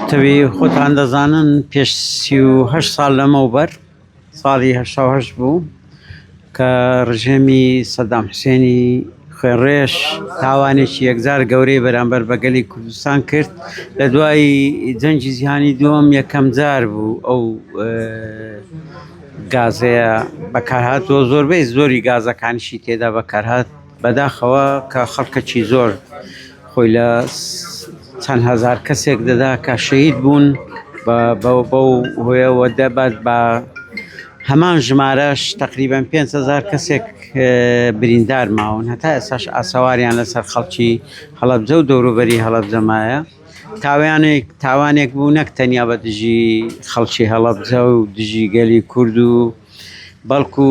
تەوێ خۆتان دەزانن پێش سی و هەشت ساڵ لەمەوبەر ساڵی هەشتا هەشت بوو کە ڕژێمی سەدام حوسێنی خوێڕێش تاوانێکی یەکجار گەورەی بەرامبەر بەگەلی کوردستان کرد لە دوای جەنگی جیهانی دووەم یەکەم جار بوو ئەو گازەیە بەکارهاتوە زۆربەی زۆری گازەکانشی تێدا بەکارهات بەداخەوە کە خەڵکەکی زۆر خۆی لە چەند هەزار کەسێک دەدا کە شەهید بوون بەو هۆیەوە دەبات بە هەمان ژمارەش تقریبان 500هزار کەسێک بریندار ماون هەتا ئێساش ئاسەواریان لەسەر خەڵکی هەڵەبجە و دەوروبەری هەڵەبجەمایە تاوانێک تاوانێک بوو نەک تەنیا بە دژی خەڵکی هەڵەبجە و دژی گەلی کورد و بەڵکو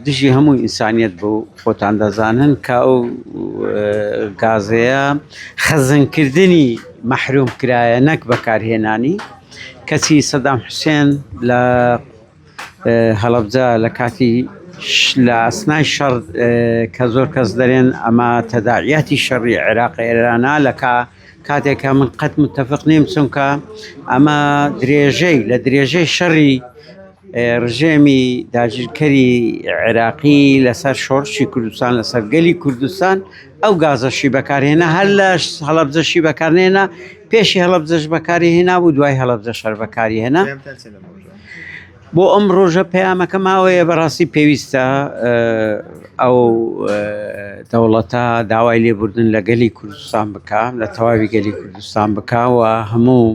دژی هەموو ئینسانیەت بوو خۆتان دەزانن کە ئەو گازەیە خەزنکردنی مەحروم کرایە نەک بەکارهێنانی کەچی سەدام حوسێن لە هەڵەبجە لە کاتی لە ئەسنای شەڕ کە زۆر کەس دەرێن ئەمە تەداعیاتی شەڕی عێراق ئێرانا لەکە کاتێک کە من قەت متفق نیم چونکە ئەمە درێژەی لە درێژەی شەڕی ڕژێمی داگیرکەری عێراقی لەسەر شۆڕشی کوردستان لەسەر گەلی کوردستان ئەو گازەشی بەکارهێنا هەر لە هەڵبزەشی بەکارنێنا پێشی هەڵبزش بەکاری هێنا و دوای هەڵبزە شەر بەکاری هێنا. بۆ ئەم ڕۆژە پەیامەکە ماوەیە بەڕاستی پێویستە ئەو دەوڵەتە داوای لێبوردن لە گەلی کوردستان بک لە تەواوی گەلی کوردستان بکوە هەموو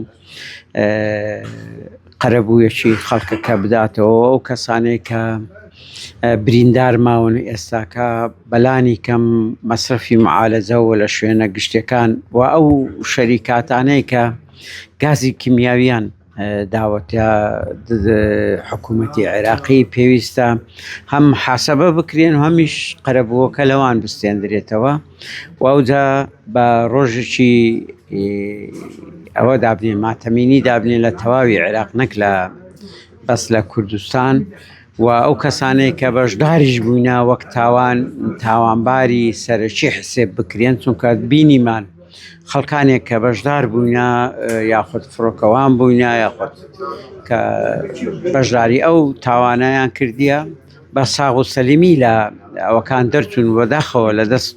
قەرەبوویەکی خەڵکەکە بداتەوە ئەو کەسانێک کە بریندار ماون ئێستاکە بەلانی کەم مەسرفی معالەجەوە لە شوێنە گشتەکان و ئەو شەریکاتانەی کە گازی کیمیاویان داوەتە حکوومەتی عێراقی پێویستە هەم حەسەبە بکرێن و هەمیش قەرەبووەکە لەوان بستێندرێتەوە و ئەوجا بە ڕۆژێکی ئەوە دابنێ ماتەمینی دابنێ لە تەواوی عێراق نەک لە بەس لە کوردستان و ئەو کەسانەی کە بەشداریش بووینە وەک تاوان تاوانباری سەرەکی حسێب بکرێن چونکە بینیمان خەڵکانێک کە بەشدار بووینە یاخود فڕۆکەوان بووینە یاخود کە بەشداری ئەو تاوانیان کردیە بە ساغ و سەلیمی لە ئەوەکان دەرچون وەداخەوە لە دەست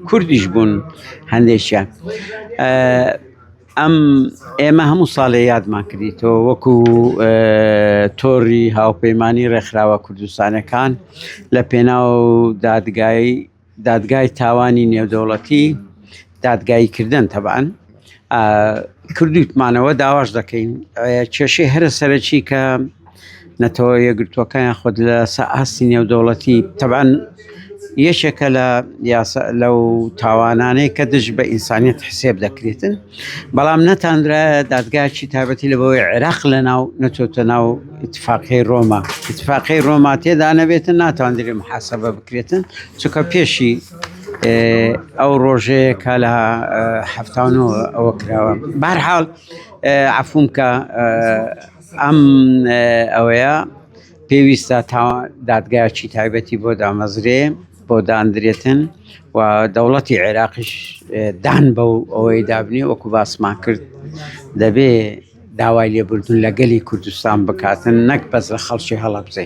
کوردیش بوون هەندێکیان ئەم ئێمە هەموو ساڵێ یادمان کردیتەوە وەکو تۆری هاوپەیمانی ڕێکخراوە کوردستانەکان لە پێناو دادگای دادگای تاوانی نێودەوڵەتی دادگایی کردن تەبان کردوتمانەوە داواش دەکەین کێشەی هەرە سەرەکی کە نەتەوە یەکگرتووەکە یاخود لە ئاستی نێودەوڵەتی تەبان یەکێکە لە یاسا لەو تاوانانەی کە دژ بە ئینسانیت حسێب دەکرێتن بەڵام نەتاندرا دادگاچی تابەتی لە بۆی عێراق لە ناو نەچۆتە ناو اتفاقی ڕۆما اتفاقی ڕۆما تێدا نەبێتن ناتاندرێ محاسبە بکرێتن چکە پێشی ئەو ڕۆژەیە کا لە هەفتانەوە ئەوە کراوە بارحاڵ عفونکە ئەم ئەوەیە پێویستە تا دادگایکی تایبەتی بۆ دامەزرێ بۆ داندرێتن و دەوڵەتی عێراقیش دان بە و ئەوەی دابنی وەکو باسمان کرد دەبێ داوای لێبوردون لە گەلی کوردستان بکاتن نەک بەس لە خەڵکی هەڵەبزێ.